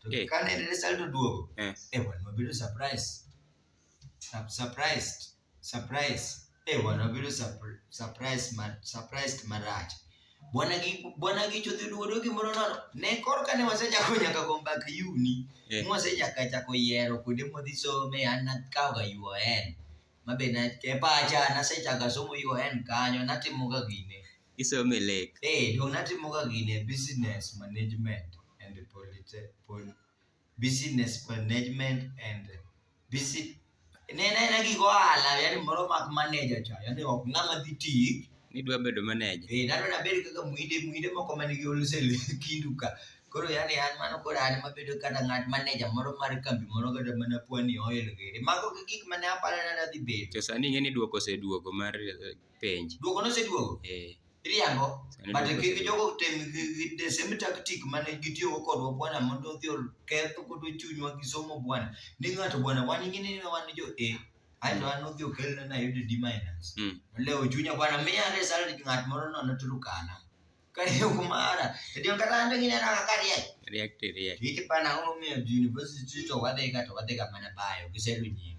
to eh. ka ne result oduogo eh. eh wan wabedo surprise surprised surprise eh wan wabedo surprise surprised marach bwana gi bwana gi chodhi duodo gimoro nono ne korka ne wasechako nyaka go mbak yuni yeah. mwasechaka chako yiero kuonde modhi some an nakawga un mabe e pacha nasechaka somo un kanyo natimoga gine isome lek. Ee, duong' natimoga gini e business management and polite- pol- business management and busi- ne en aena gik ohala yani moro mak manager cha yani ok ng'ama dhi tik Nidwa bedo maneja. Eh, nano nabed kaka mwinde mwinde moko man gi wholesale kindu ka koro yani an mano koro an mabedo kata ng'at maneja moro mar kambi moro kata mana pwani oil giri mago gi gik mane aparo ni nadhi bedo To sani ing'e ni duoko oseduogo mar eh, penj. Duoko noseduogo. Eh. Iriambo. But kik jogo tem the same tactic mane gitiyogo kodwa bwana mondo odhi oketh kod chunywa gi somo bwana. Ni ng'ato bwana wan ing'ini ni wan jo A. Aeto an odhi okelna na yudo D minus. Hmm. Lewo chunya bwana miya result ng'at moro nono Turkana. Kare yo kumara. Ndio kata ande ngine na kakari ya. React react. Hiki pana ng'o miyo university to wadhiga to wadhiga mana bayo. Giselu nyingi.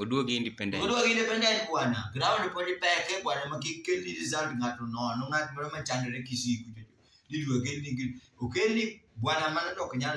Oduogi independent. Oduogi independent bwana. Ground pod ipeke bwana ma kik kel ni result ng'ato nono ng'at moro ma chandore Kisii kucho. Idwa kel ni okel ni bwana mano to ok nyal